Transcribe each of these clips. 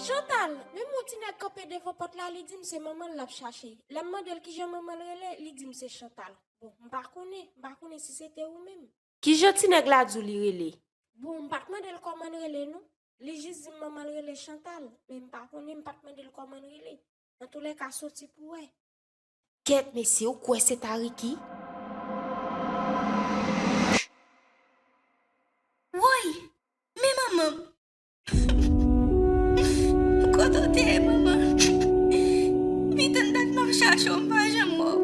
Chantal, menm yon ti nèg kanpe devan pòt la, li di m se manman l l ap chache. Lè m mande l ki jan manman l rele, li di m se Chantal. Bon, m pa konnen, m pa konnen si se te ou menm. Ki jan ti nèg la di w li rele? Bon, m pa t mande l kòman l rele non. Li jis di m manman l rele Chantal, men m pa konnen, m pa t mande l kòman l rele. Antoulèka soti pou wè. Kèt mesye ou kwè se ta Ricky? Woy! Men manman m! Kote w te ye manman? Pitit m dat m ap chache w m pa janm wè w.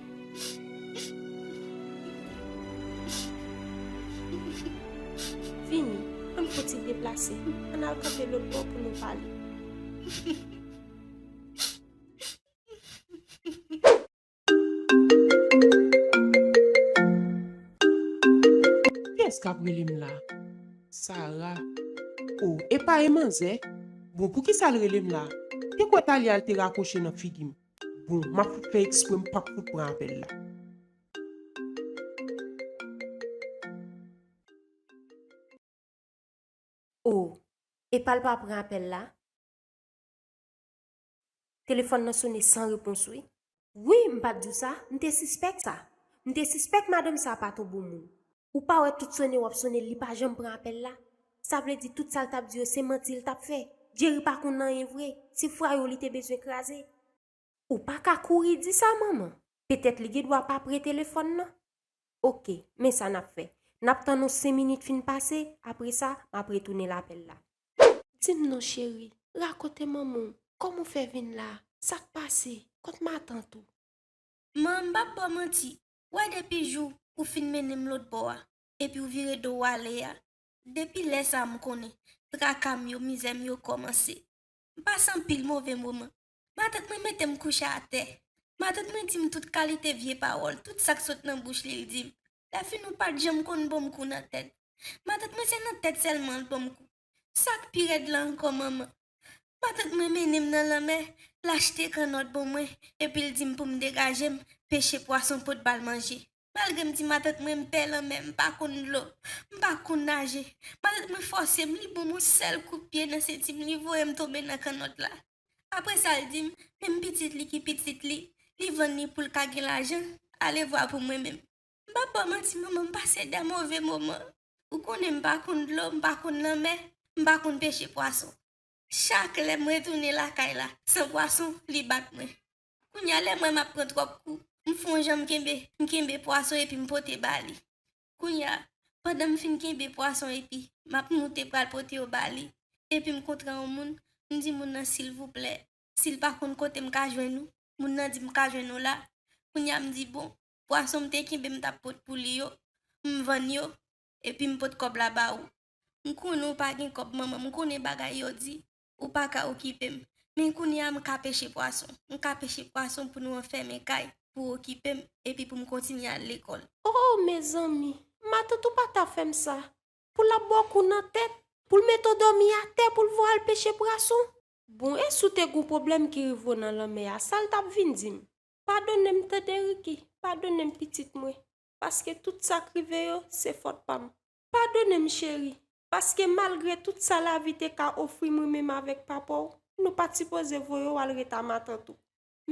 Vini, an n fouti deplase, an n al kanpe lòt bò pou nou pale. Kiyès k ap rele m la? Sara, O, epa e manzè? Bon, poukisa l rele m la? Te kwè Talia l te rakwoche nan figi m. Bon map fout fè ekspre m pap fout pran apèl la. Oh epal pa pran apèl la? Telefòn nan sone san repons wi. Wi m pat diw sa, m te sispèk sa. M te sispèk madanm sa pat on bon moun. Ou pa wè tout sone wap sonel li pa janm pran apèl la sa vle di tout sal tap di yo se manti li tap fè Jerry pa konn anyen vre se fwayou li te bezwen kraze. Ou pa ka kouri di sa manman. Petèt li gen dwa pa pre telefòn nan. Ok, men sa nap fè. Nap tann yon 5 minit fin pase, apre sa, map retounel apèl la. Di m non cheri, rakonte manman w, kòman w fè vin la, sak pase, kont matant ou. Manman m pap baw manti, Wè depi jou ou fin mennen m lòt bò a, epi w vire do w ale a, depi lè sa m konnen traka m yo, mizè m yo kòmanse. M pase anpil move moman. Matant mwen mete m kouche atè. Matant mwen di m tout kalite vye pawòl, tout sa k sot nan bouch li l di m. Lèfini w pa t janm konn ban m kou nan tèt. Matant mwen se nan tèt sèlman l ban m kou. Sak pi rèd la ankò manman matant mwen mennenm nan lanmè lachte kannòt bon mwen epil dim poum degajem peche pwason pot bal manje malgrem di matant mwen mpè lanmè mpa konn dlo mpa konn naje matant mwen fòsem li bonm on sèl kout pye nan sentim li voyem tonbe nan kannòt la apresal dim menm pitit li ki pitit li li vann li poul ka gen lajan alevwa pou mwen menm. M pap ba w manti manman m pase de move moman, ou konnen m pa konn dlo, m pa konn lanmè, m pa konn peche pwason. Chak lè mwen tounen lakay la san pwason li bat mwen. Kounye a lè m wè m ap pran twòp kou, m fon jan m kenbe, m kenbe pwason epi m pote ba li. Kounye a, pandan m fin kenbe pwason epi m ap moute pral pote yo ba li, epi m kontre yon moun, m di moun nan silvouplè, si l pa konn kote m ka jwenn ou, moun nan di m ka jwenn ou la. Kounye a m di bon, Pwason m te kenbe m t ap pot pou li yo, m vann yo, epi m pot kòb la ba ou. M konnen ou pa gen kòb manman, m konnen bagay yo di, ou pa ka okipe m. Men kounye a m ka peche pwason. M ka peche pwason pou nou anfèmen kay, pou ou okipe m, epi pou m kontinye al lekòl. O, mezanmi! Matant ou pa ta fè m sa! Pou l ap ba w kou nan tèt! Pou l mete w dòmi atè pou l voye w al peche pwason! Bon, e si w te gen yon pwoblèm ki rive w nan lanmè a, sa l t ap vin di m? Padone m tande Ricky, padone m pitit mwen, paske tout sa k rive yo se fòt pa m. Padone m cheri, paske malgre tout sa lavi te ka ofri m menm avèk papa w, nou pa t sipoze voye w al ret a matant ou.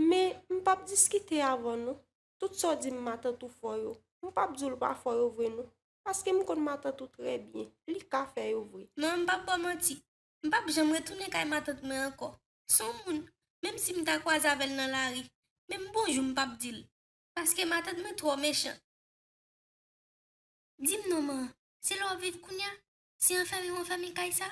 Men, m p ap diskite avè w non. Tout sa w di m matant ou fò yo, m p ap di w l pa fò yo vre non, paske m konn matant ou trè byen, li ka fè yo vre. Non, m p ap ba w manti. M pap janm retounen kay matant mwen ankò. S on moun, menm si m ta kwaze avè l nan lari, menm bonjou m pap di l. Paske matant mwen twò mechan. Di m non man, se la w ap viv kounya? Se anfèmi w anfèmi kay sa?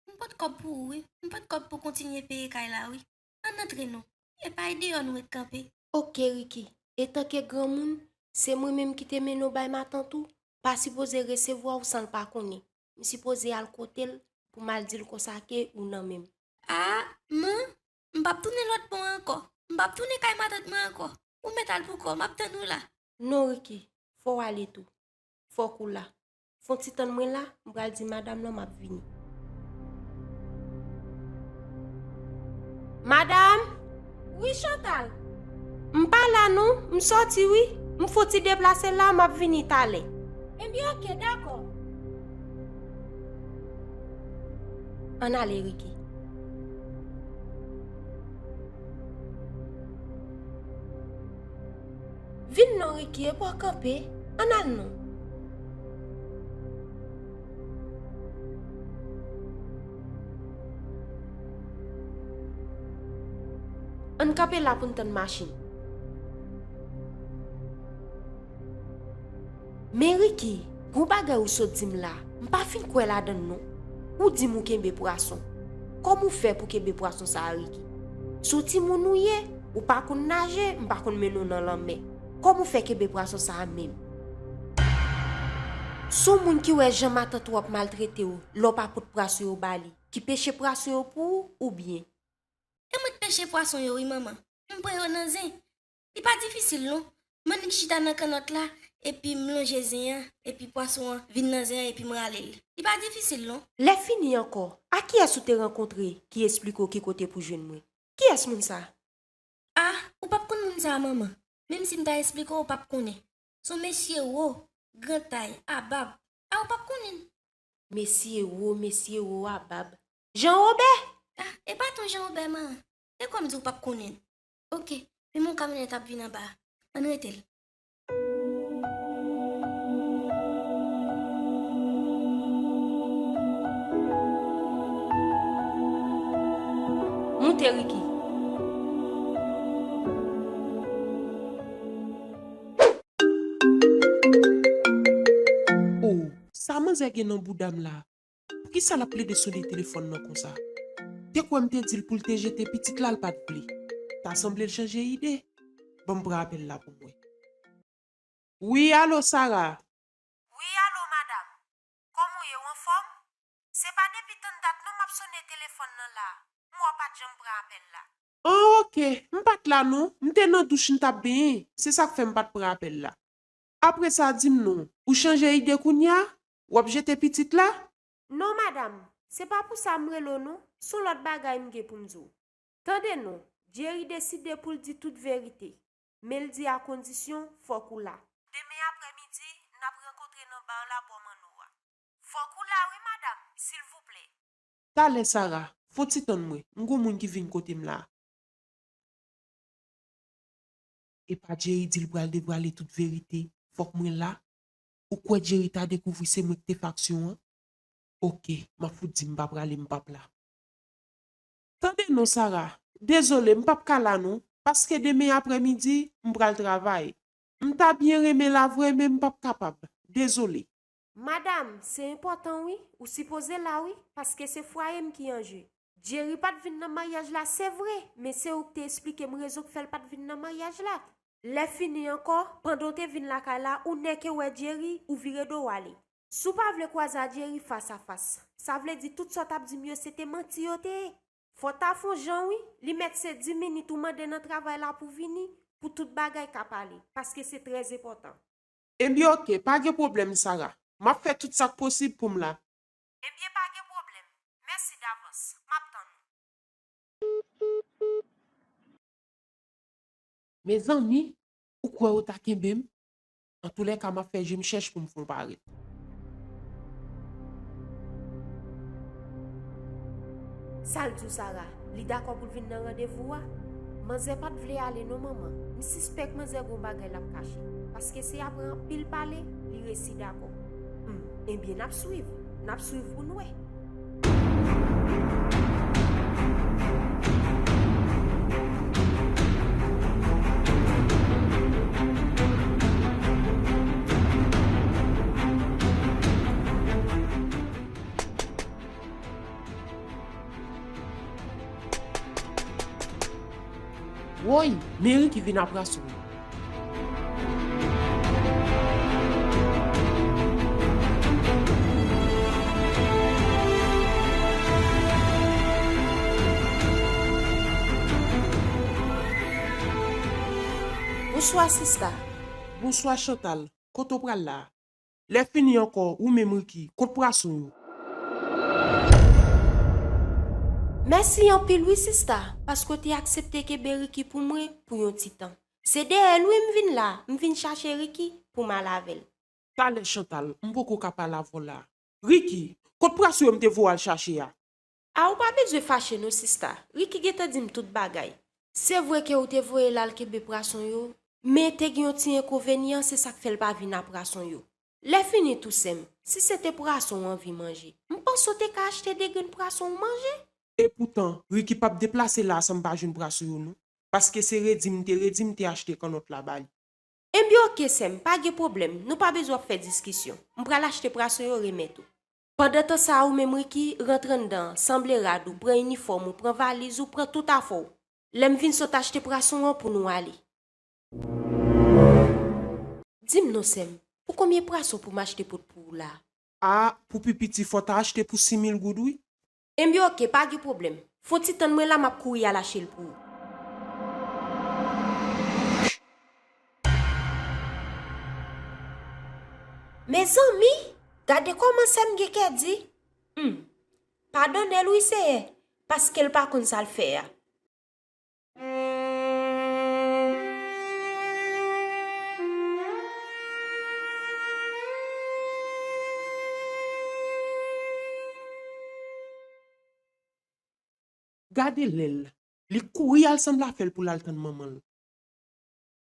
M pot kòb pou ou wi, m pot kòb pou kontinye peye kay la wi. Ann antre non. E pa e deyò nou ret kanpe. Ok Riki, etanke granmoun, se mwen menm ki te mennen w bay matant ou, pa sipoze resevwa w san l pa konnen. M sipoze al kote l pou m al di l konsa ke ou nan men m. Aa, man, m pap tounen lòt bò ankò. M pap tounen kay matant mwen ankò. Ou mèt al poukò w, m ap tann ou la. Non, Riki, fò w ale tou. Fòk ou la. Fon ti tann mwen la, m pral di madam lan m ap vini. Madam! Wi Chantal. M pa la non, m sòti wi. M fouti deplase la, m ap vini talè. Ebyen ok, dakò. Ann ale Ricky. Vin non Ricky, epa w kanpe. Ann al non. Ann kanpe la pou n tann machin. Men Ricky, gwo bagay ou sot di m la, m pa fin kwè ladan l non. Ou di m ou kenbe pwason. Kòman ou fè pou kenbe pwason sa a Ricky? Sou timoun ou ye, ou pa konn naje, m pa konn mennen w nan lanmè. Kòman ou fè kenbe pwason sa a menm? Son moun ki wè jan matant ou ap maltrete w, lè w pa pot prason yo ba li, ki peche prason yo pou ou oubyen. E mwen t peche pwason yo wi manman, m pran yo nan zen, li pa difisil non, m annik chita nan kannòt la epi m lonje zen an epi pwason an vin nan zen an epi m rale l, li pa difisil non. Lè fini ankò, a kiyès ou te rankontre ki esplike w ki kote pou jwenn mwen? Kiyès moun sa? A, ou pap konn moun sa manman, menm si m ta esplike w ou pap konnen, s on mesye wo, gran tay, a bab, Ah ou pap konnin. Messi ewo messi ewo a bab Jean Robert. Ah e pa ton Jean Robert man. E kòm di ou pap konnin. Ok men mon kamyonèt ap vin anba Ann rete l. Moute Ricky. Oh sa manzè gen nan boudam la poukisa lap plede sone telefòn nan konsa te kwè m te dil poul te jete pitit la l pat vle ta sanble l chanje ide banm pran apèl la pou mwen wi alo Sara. Wi alo madam kòm ou ye ou anfòm se pa depi tann dat non map sone telefòn nan la m wè w pat janm pran apèl la An ok, m pat la non, m te nan douch m tap benyen, se sak fè m pat pran apèl la. Apre sa di m non, ou chanje ide kounya? Wap jete pitit la? Non madam, se pa pou sa m rele w non, son lòt bagay m gen pou m di w. Tande non, Jerry deside pou l di tout verite, men l di a kondisyon fòk ou la. Demen aprè midi, nap rankontre nan bar la bò Manno a. Fòk ou la wi madam, silvouplè. Talè Sara, fon ti tann mwen, m gon moun ki vin kote m la. Epa Jerry dil pral devwale tout verite, fòk mwen la, ou kwè Jerry ta dekouvri se mwen ki te fè aksyon an? Ok, map fout di m pa prale m pap la. Tande non Sara, dezole m pap ka la non, paske demen aprè midi, m pral travay. M ta byen renmen la vre men m pap kapab, dezole. Madam, se enpòtan wi, ou sipoze la wi, paske se fwaye m ki an je. Djeri pa t vin nan maryaj la se vre, men se ou k te esplike m rezon k fè l pa t vin nan maryaj la. Lèfini ankò, pandan w te vin lakay la, ou nèke wè Djeri, ou vire do w ale. Si w pa vle kwaze a Djeri fas a fas, sa vle di tout sa w t ap di m yo se te manti yo te ye. Fò w ta fè on jan wi, li mèt se di minit ou mande nan travay la pou vini, pou tout bagay ka pale, paske se trèzenpòtan. Enbyen ok, pa gen pwoblèm Sarah. M ap fè tout sa k posib pou m la. Enbyen pa gen pwoblèm. Mèsi davans. M ap tann ou. Mezanmi, ou kwè ou ta kenbe m? Antoulèka m ap fè je m chèch pou m fon parèt. Sa l di w Sarah? Li dakò pou l vin nan randevou a? Manzè pa t vle ale non manman, m sispèk manzè gon bagay l ap kache, paske se apre anpil pale li resi dakò. Humm, enben n ap swiv, n ap swiv pou n wè. Woy! Meri ki vin apra sou nou. Bonswa sista. Bonswa Chantal. Kote w pral la a? Lè fini ankò, ou menm Ricky, kont pwason yo. Mèsi anpil wi sista paske w te aksepte kenbe Ricky pou mwen pou yon ti tan. Se dèyè l wi m vin la, m vin chache Ricky pou m al avè l. Talè Chantal, m poko ka pale avè w la. Ricky, kont pwason yo m te voye w al chache a? Ah ou pa bezwen fache non sista, Ricky gentan dim tout bagay. Se vre ke ou te voyel al kenbe prason yo, men te gen yon ti enkovenyan se sak fèl pa vin a prason yo. Lè fini tou sèm, si se te prason ou anvi manje, m panse ou te ka achte 2 grenn prason ou manje? Epoutan, Ricky pap deplase la a san m pa jwenn prason yo non, paske se redi m te redi m te achte kannòt la ba li. Enbyen ok sèm, pa gen pwoblèm, nou pa bezwen ap fè diskisyon. M pral achte prason yo remèt ou. Pandan tan sa ou menm Ricky, rantre anndan, sanble rad ou, pran inifòm ou, pran valiz ou, pran tout afè w. Lè m vin sot achte prason an pou nou ale. Di m non sè m, pou konbyen prason pou m achte pot pou ou la? A, pou pi piti fò w ta achte pou 6000 goud wi. Enbyen ok pa gen pwoblèm. Fon ti tann mwen la map kouri al achte l pou ou. Mezanmi! Gade kòman sè m gen kè di. Humm. Padone l wi Seyè, paske l pa konn sa l fè a. Gade lèl li kouri al sanble afèl poul al tann manmanl.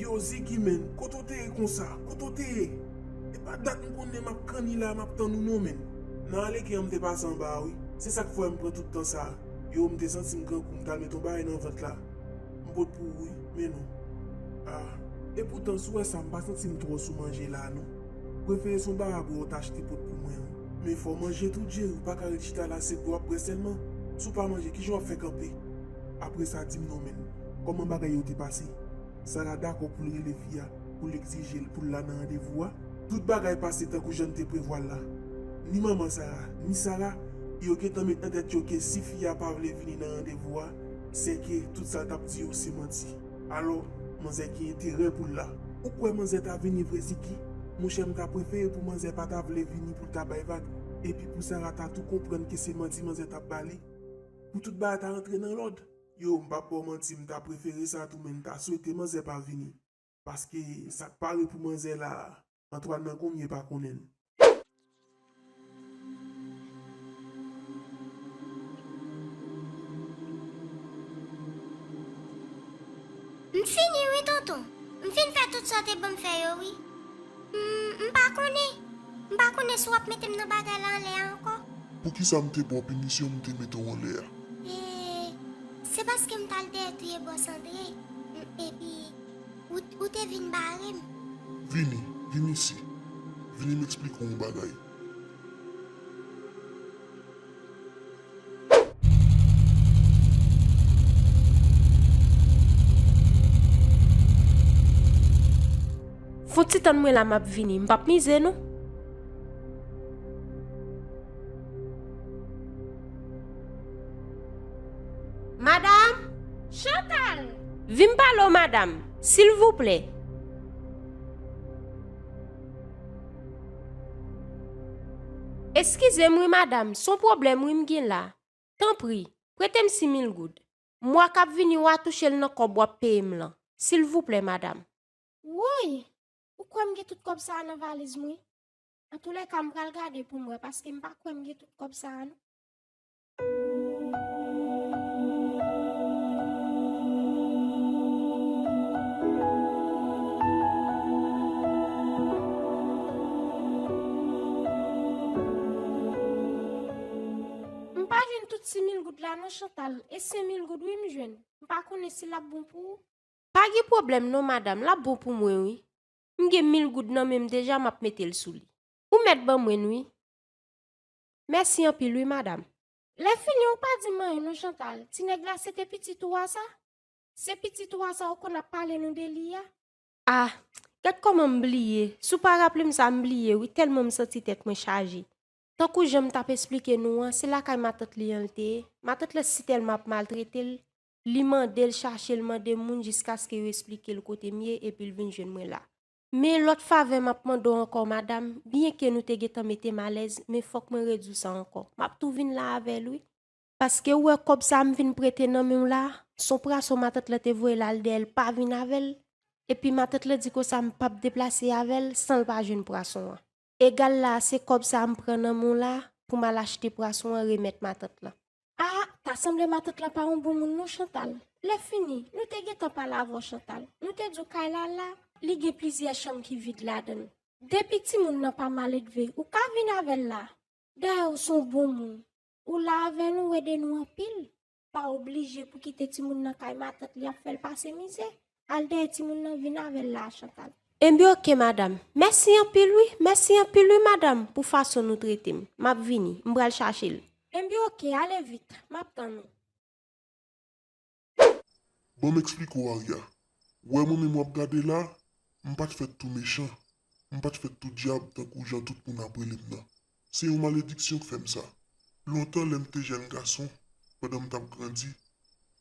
Yow Ziggy menn, kote w te ye konsa? Kote w te ye? E pa dat m konnen m ap kanni la a m ap tann ou non menn. Nan Aleken an m te pase anba a wi, se sa k fè m pran tout tan sa a. Yow m te santi m grangou m t al met yon bagay nan vant la. M pot pou ou wi, men non. Ah. E poutan si w wè sa m pa santi m twò sou manje la a non. Prefere se yon barab wè w t achte pot pou mwen an. Men fòw manje tou Jerry ou paka ret chita la se pou wap bwè sèlman, si w pa manje kijan wap fè kanpe. Apre sa dim non men kòman bagay yo te pase. Sarah dakò poul rele fi a poul egzijel poul la nan randevou a. Tout bagay pase tankou jann te prevwal la. Ni manman Sarah, ni Sarah yo gentan met nan tèt yo ke si fi a pa vle vini nan randevou a, sèke tout sa l tap di yo se manti. Alò manzè ki enterè poul la. Ou kwè manzè ta vini vre Ziki? Monchè m ta prefere pou manzè pa ta vle vini poul ta bay vag epi pou Sara ta tou konprann ke se manti manzè tap ba li pou tout bagay ta rantre nan lòd. Yo m pap baw manti m ta prefere sa tou men m ta swete manzè pa vini paske sak pare pou manzè la Antwàn nan koumye pa konnen l. M fini wi tonton, m fin fè tout sa w te banm fè yo wi. M m pa konnen, m pa konnen si w ap mete m nan bagay la anlè a ankò. Poukisa m te ba w pinisyon m te mete w anlè a? E, se paske m t al dèyè touye bòs Andre, m, epi. Ou te vin bare m. Vini, vini isi. Vini m eksplike w yon bagay. Fon ti tann mwen la m ap vini. M p ap mize non. Madam! Chantal! Vin pale w madam, silvouplè. Eskize m wi madam, son pwoblèm wi m gin la. Tanpri, prete m simil goud. Mwa kap vini wa touche l nan kòb wap peye m lan. Silvouplè madam. Woy! Ou kwè m gen tout kòb sa a nan valiz m wi. Antoulèka m pral gade pou m wè paske m pa kwè m gen tout kòb sa a non. M pa jwenn tout simil goud la non Chantal e senmil goud wi m jwenn m pa konnen si lap bon pou ou. Pa gen pwoblèm non madam lap bon pou mwen wi m gen mil goud nan menm deja map metel sou li. Ou mèt ban mwenn wi. Mèsi anpil wi madam. Lè fini ou pa di m anyen non Chantal, ti nèg la se te pitit ou a sa? Se pitit ou a sa ou konn ap pale nou de li a? Ah gad kòman m bliye, si w pa raple m sa m bliye wi tèlman m santi tèt mwen chaje. Tankou jan m t ap esplike nou an, se lakay matant li an l te ye, matant la sitèlman ap maltrete l, li mande l chache l mande moun jiskaske yo esplike l kote m ye epi l vin jwenn mwen la. Men lòt favè map mande w ankò madam, byen ke nou te gentan mete m alèz, men fòk mwen redi w sa ankò. Map tou vin la avè l wi. Paske ou wè kòb sa m vin prete nan men w la, son prason matant lan te voye l al dèyè l pa vin avè l, epi matant lan di konsa m pap deplase avè l san l pa jwenn prason an. Egal la se kob sa m pran nan men w la pou m al achte pwason an remet matant lan. Ah ta sanble matant lan pa yon bon moun non Chantal, lè fini nou te gentan pale avè w Chantal, nou te di w kay la la, li gen plizyè chanm ki vid ladan l, depi timoun nan pa maledve ou ka vin avè l la, dayè w son bon moun, ou la avè nou w ede nou anpil. pa oblije pou kite timoun nan kay matant li ap fèl pase mizè. Al dèyè timoun nan vin avèl la a Chantal. Enben ok madam. Mèsi anpil wi, mèsi anpil wi madam pou fason nou trete m. M ap vini, m pral chache l. Enben ok, ale vit, m ap tann ou. Ban m eksplike w Arya. Wè mwen menm w ap gade la, m pa t fèt tou mechan. M pa t fèt tou dyab tankou jan tout moun ap rele m nan. Se yon malediksyon k fè m sa. Lontan lè m te jèn gason, pandan m t ap grandi,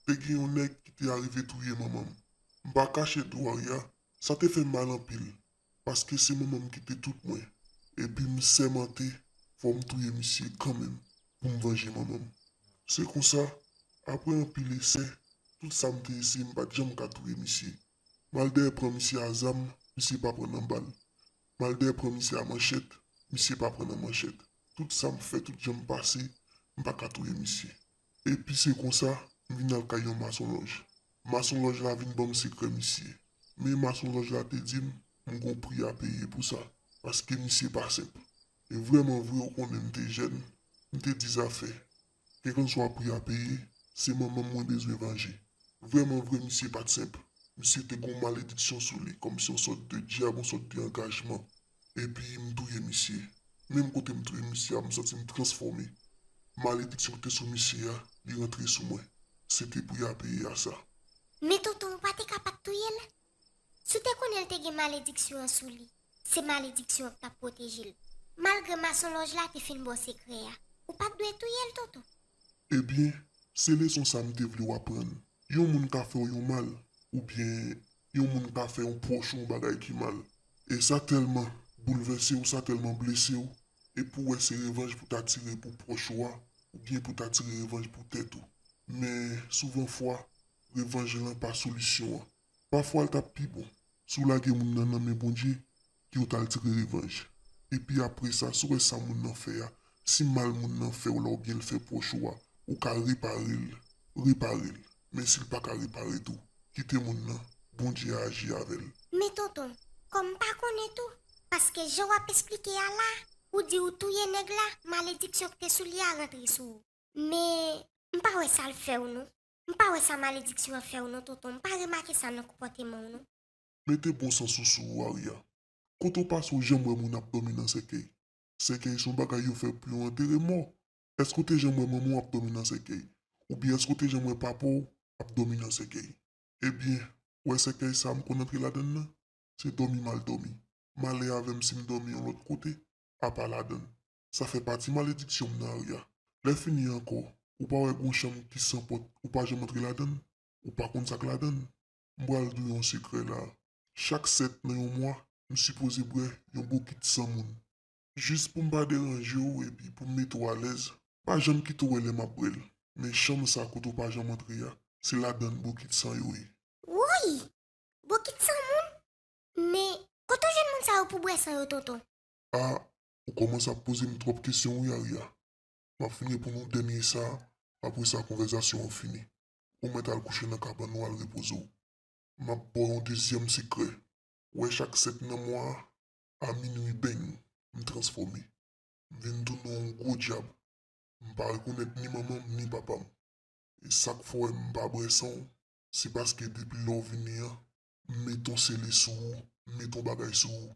te gen yon nèg ki te arive touye manman m. M pa kache di w Arya, sa te fè m mal anpil, paske se manman m ki te tout mwen. Epi m sèmante fò m touye misye kanmenm pou m vanje manman m. Se konsa, apre anpil esè, tout sa m te eseye m pa t janm ka touye misye. Maldè pran misye a zam, misye pa pran nan bal. Maldè pran misye a manchèt, misye pa pran nan manchèt. Tout sa m fè, tout jan m pase, m pa ka touye misye. Epi se konsa, m vin al kay yon masonlòj. Masonlòj la vin ban m sekrè misye. Men masonlòj la te di m, m gon pri a peye pou sa, paske misye pa senp. E vrèman vre ou konnen m te jèn, m te di zafè. Kèlkanswa pri a peye, se manmanm mwen bezwen vanje. Vrèman vre misye pat senp. Misye te gon malediksyon sou li kòmsi yon sòt de dyab yon sòt de angajman. Epi m touye misye. Menm kote m touye misye a m santi m transfòme. Malediksyon ki te sou misye a, li rantre sou mwen. Se te pri a peye a sa. Men tonton ou pa te ka pat touyel? Si w te konnen l te gen malediksyon an sou li, se malediksyon an k t ap pwoteje l. Malgre masonlòj la te fin ba w sekrè a, ou pa t dwe touye l, Toto. Ebyen, se leson sa m te vle w aprann. Yon moun ka fè w yon mal, oubyen yon moun ka fè yon pwòch ou yon bagay ki mal. E sa tèlman boulvèse w, sa tèlman blese w, epi w wè se revanj pou ta tire pou pwòch ou a, oubyen pou ta tire revanj pou tèt ou. Men, souvan fwa, revanj lan pa solisyon an. Pafwa l t ap pi bon si w lage moun nan nan men Bondye ke w t al tire revanj. Epi apresa si w wè sa moun nan fè a, si mal moun nan fè w la oubyen l fè pwòch ou a, ou ka repare l, repare l. Men si l pa ka repare tou, kite moun nan, Bondye a aji avè l. Men tonton, kòm m pa konnen tou, paske jan w ap esplike a la, ou di ou touye nèg la, malediksyon k te sou li a rantre sou ou. Men, m pa wè sa l fè w non. M pa wè sa malediksyon an fèw non tonton m pa remake sa nan konpòtemanw non. Mete bon sans ou sou ou Aria. Kote w pase w janm wè moun ap domi nan sèkèy? Sèkèy son bagay yo fè pou yo antere mò. Eske w te janm wè manman w ap domi nan sèkèy? Oubyen eske w te janm wè papa w ap domi nan sèkèy? Ebyen, ou wè sèkèy sa m konn antre ladann nan? Se domi mal domi. Malè avè m si m domi yon lòt kote, apa ladann. Sa fè pati malediksyon m nan Arya. Lè fini ankò ou pa wè gon chanm ki san pòt ou pa janm antre ladann ou pa konn sak ladann m pral diw yon sekrè la chak 7 nan yon mwa m sipoze bwè yon bokit san moun jis poum pa deranjew epi poum mete w alèz. Pa janm kite w wè lè map bwèl men chanm sa kote w pa janm antre a se ladann bokit san yo ye. Woyy! Bokit san moun? Men kote w jwenn moun sa yo pou bwè san yo tonton? Ah Ou komanse ap pozem trop kesyon wi Aria, map fin reponn ou dènye sa apre sa konvèzasyon an fini, ou mèt al kouche nan kabann ou al repoze w, map baw yon dezyèm sekrè, wè chak 7 nan mwa a minwi beng m transfòme, m vin tounen yon gwo dyab, m pa rekonèt ni manmanm ni papam, e sak fè w wèm pa bwè san w se paske depi lè w vini an m met yon sele sou ou, m met yon bagay sou ou,